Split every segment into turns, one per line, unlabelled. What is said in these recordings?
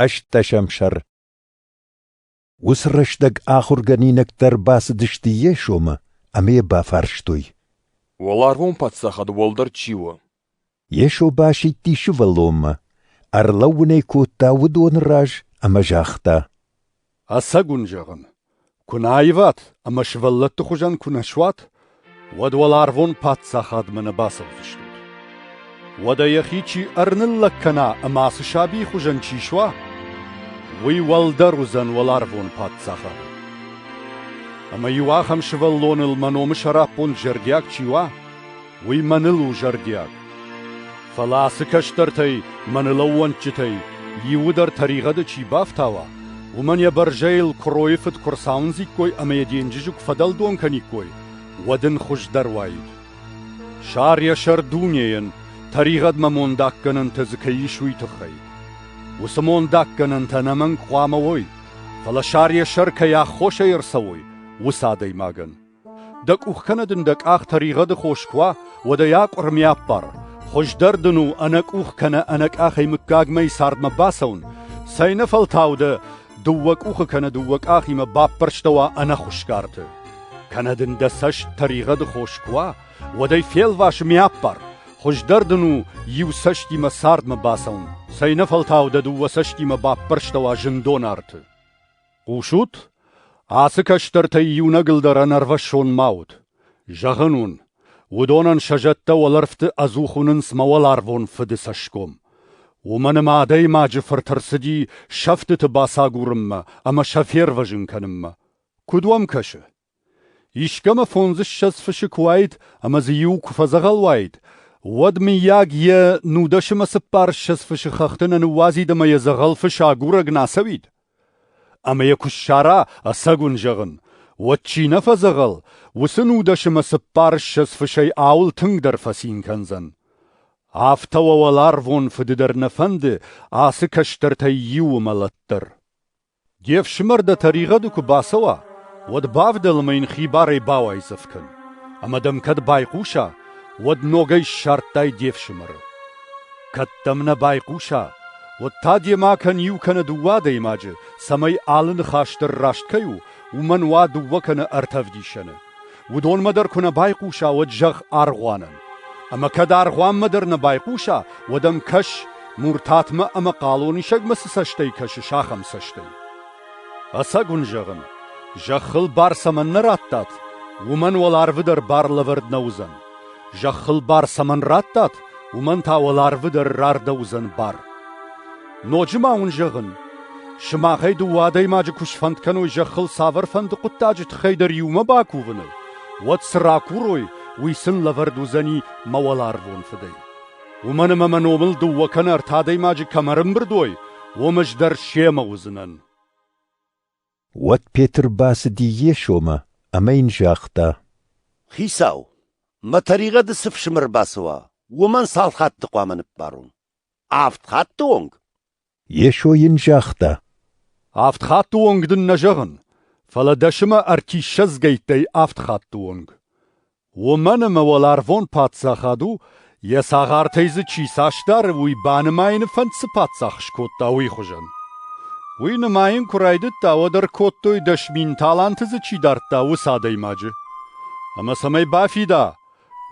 ӕстдӕсӕм сӕр Уыцы рӕстӕг ахуыргӕнинӕгтӕ бацыдысты йе сомы ӕмӕ йӕ бафарстой. Уӕларвон
паддзахад уӕлдӕр чи у? Йесо
басидти сывӕллонмӕ, ӕрлӕууын ӕй кодта уыдоны раз ӕмӕ загъта. Ӕцӕг
уын зӕгъын, куы нӕ аиват ӕмӕ сывӕллӕтты хуызӕн куы нӕ суат, уӕд уӕларвон паддзахадмӕ нӕ бацӕудзыстут. Уӕдӕ йӕхи чи ӕрныллӕг кӕна ӕмӕ ацы сабийы хуызӕн чи суа, уый уӕлдӕр уыдзӕн уӕларвон паддзахад. Ӕмӕ-иу ахӕм сывӕллоныл мӕ номы сӕраппонд зӕрдиаг чи уа, уый мӕныл у зӕрдиаг. Фӕлӕ ацы кӕстӕртӕй, мӕныл ӕууӕнчытӕй, иуы тӕригъӕды чи бафтауа, уымӕн йӕ бӕрзӕйыл куыройы фыд куы рцауындзиккой ӕмӕ йӕ денджызы куы фӕдӕлдон кӕниккой, уӕд ын хуыздӕр уаид. Сар йӕ сӕр дунейӕн, тӕригъӕдмӕ мондаггӕнӕнтӕ дзы кӕй ис, уый тыххӕй. Уыцы мондаггӕнӕнтӕ ӕнӕмӕнг хъуамӕ уой, фӕлӕ сар йӕ сӕр кӕй аххосӕй ӕрцӕуой, уыцы адӕймагӕн. Дӕ къух кӕнӕ дын дӕ къах тӕригъӕды хос куы уа, уӕд ӕй акъуырми аппар, хуыздӕр дын у ӕнӕкъух кӕнӕ ӕнӕкъахӕй мыггагмӕйы цардмӕ бацӕуын, цӕйнӕфӕлтау дӕ дыууӕ къухы кӕнӕ дыууӕ къахимӕ баппӕрстӕуа ӕнӕхуысгӕрты. Кӕнӕ дын дӕ цӕст тӕригъӕды хос куы уа, уӕд ӕй фелвас ӕмӕ аппар, хуыздӕр дын у иу цӕстимӕ цардмӕ бацӕуын, цӕйнӕфӕлтау дӕ дыууӕ цӕстимӕ баппӕрстӕуа зындон арты. Хъусут? Ацы кӕстӕртӕй иунӕгыл дӕр ӕнӕрвӕссон ма ут. Зӕгъын уын, уыдонӕн сӕ зӕдтӕ уӕлӕрвты ӕдзух уынынц мӕ уӕларвон Фыды цӕсгом. Уымӕн ӕмӕ Адӕймаджы Фырт ӕрцыди сӕфтыты бацагурынмӕ ӕмӕ сӕ фервӕзын кӕнынмӕ. Куыд уӕм кӕсы? Искӕмӕ фондзыссӕдз фысы куы уаид ӕмӕ дзы иу куы фӕдзӕгъӕл уаид, уӕд, мыййаг, йӕ нудӕсымӕ цыппарыссӕдз фысы хӕхты нӕ ныууадзид ӕмӕ йӕ дзӕгъӕл фыс агурӕг нӕ ацӕуид? Ӕмӕ йӕ куы ссара, ӕцӕг уын зӕгъын, уӕд чи нӕ фӕдзӕгъӕл, уыцы нудӕсымӕ цыппарыссӕдз фысӕй ауыл тынгдӕр фӕцин кӕндзӕн. Афтӕ уӕ уӕларвон Фыды дӕр нӕ фӕнды ацы кӕстӕртӕй иуы мӕлӕт дӕр. Де фсымӕр дӕ тӕригъӕды куы бацӕуа, уӕд бавдӕл ӕмӕ йын хибарӕй бауайдзӕф кӕн, ӕмӕ дӕм кӕд байхъуса, уӕд ногӕй ссардтай де фсымӕры. Кӕд дӕм нӕ байхъуса, уӕд та демӕ кӕн иу кӕнӕ дыууӕ адӕймаджы, цӕмӕй алы ныхас дӕр раст кӕй у, уымӕн уа дыууӕ кӕнӕ ӕртӕ ӕвдисӕны. Уыдонмӕ дӕр куы нӕ байхъуса, уӕд зӕгъ аргъуанӕн. Ӕмӕ кӕд аргъуанмӕ дӕр нӕ байхъуса, уӕд ӕм кӕс, муртатмӕ ӕмӕ хъалонисӕгмӕ цы цӕстӕй кӕсыс, ахӕм цӕстӕй. Ӕцӕг уын зӕгъын, зӕххыл бар цӕмӕннӕ радтат, уымӕн уӕларвы дӕр бар лӕвӕрд нӕ уыдзӕн. Зӕххыл бар цӕмӕн радтат, уымӕн та уӕларвы дӕр рардӕуыдзӕн бар. Ноджы ма уын зӕгъын, сымахӕй дыууӕ адӕймаджы куы сфӕнд кӕной зӕххыл цавӕрфӕнды хъуыддаджы тыххӕй дӕр иумӕ бакувыны, уӕд цы ракурой, уый сын лӕвӕрд уыдзӕни мӕ уӕларвон Фыдӕй. Уымӕн ӕмӕ мӕ номыл дыууӕ кӕнӕ ӕртӕ адӕймаджы кӕмӕ ӕрӕмбырд уой, уым ӕз дӕр семӕ уыдзынӕн.
Уӕд Петр бацыди Йесомӕ ӕмӕ йын загъта: Хицау,
мӕ тӕригъӕды цы фсымӕр бацӕуа, уымӕн цал хатты хъуамӕ ныббарон? Авд хатты онг? Йесо
йын загъта. Авд
хатты онг дын нӕ зӕгъын, фӕлӕ дӕсымӕ ӕртиссӕдзгӕйттӕй авд хатты онг. Уымӕн ӕмӕ уӕларвон Паддзахад у, йӕ цагъартӕй дзы чи цасдӕры, уый банымайыны фӕнд цы паддзах скодта, уый хуызӕн. Уый нымайын куы райдыдта, уӕд ӕркодтой дӕс мин таланты дзы чи дардта, уыцы адӕймаджы. Ӕмӕ цӕмӕй бафида,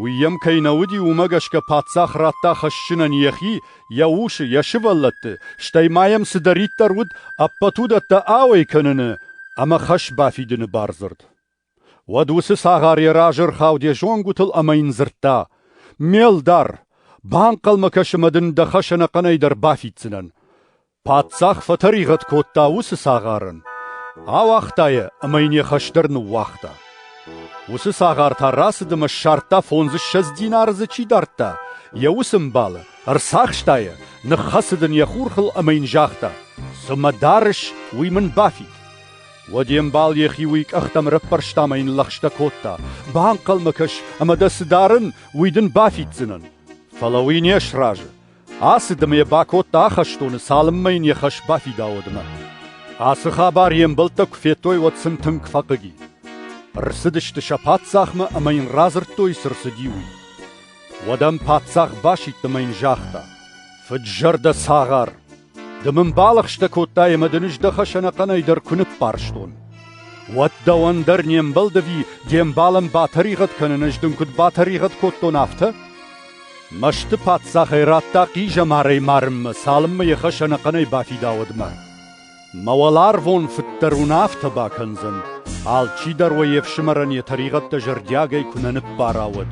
Уый йӕм кӕй нӕ уыди, уымӕ гӕсгӕ паддзах радта хӕссынӕн йӕхи, йӕ усы, йӕ сывӕллӕтты, стӕй ма йӕм цыдӕриддӕр уыд, ӕппӕт уыдӕттӕ ауӕй кӕныны ӕмӕ хӕс бафидыны бардзырд. Уӕд уыцы цагъар йӕ разы ӕрхауд йӕ зонгуытыл ӕмӕ йын дзырдта: «Ме лдар, банхъӕлмӕ кӕсы мӕ дын дӕ хӕс ӕнӕхъӕнӕй дӕр бафиддзынӕн. Паддзах фӕтӕригъӕд кодта уыцы цагъарын, ауагъта йӕ ӕмӕ йын йӕ хӕс дӕр ныууагъта. Уыцы цагъар та рацыд ӕмӕ ссардта фондзыссӕдз динары дзы чи дардта, йӕ усы мбалы, ӕрцахста йӕ, ныххӕцыд ын йӕ хурхыл ӕмӕ йын загъта: «Цы мӕ дарыс, уый мын бафид». Уӕд йе мбал йӕхи уый къӕхтӕм ӕрӕппӕрста ӕмӕ йын лӕгъстӕ кодта: «Банхъӕлмӕ кӕс, ӕмӕ дӕ цы дарын, уый дын бафиддзынӕн». Фӕлӕ уый не сразы. Ацыд ӕмӕ йӕ бакодта ахӕстоны, цалынмӕ йын йӕ хӕс бафидауыдмӕ. Ацы хабар йе мбӕлттӕ куы федтой, уӕд сын тынг фӕхъыги. Ӕрцыдысты сӕ паддзахмӕ ӕмӕ йын радзырдтой, цы рцыди, уый. Уӕд ӕм паддзах басидт ӕмӕ йын загъта: «Фыд-зӕрдӕ цагъар! Ды мын балӕгъстӕ кодтай ӕмӕ дын ӕз дӕ хӕсӕнӕхъӕнӕй дӕр куы ныббарстон. Уӕд дӕуӕн дӕр не мбӕлдӕви де мбалӕн батӕригъӕд кӕнын, ӕз дын куыд батӕригъӕд кодтон, афтӕ? Мӕсты паддзахӕй радта хъизӕмарӕй марынмӕ, цалынмӕ йӕ хӕсӕнӕхъӕнӕй бафидауӕдмӕ. Мӕ уӕларвон фыд дӕр уын афтӕ бакӕндзӕн, алчи дӕр уӕ йе фсымӕрӕн йӕ тӕригъӕдтӕ зӕрдиагӕй куы нӕ ныббара, уӕд.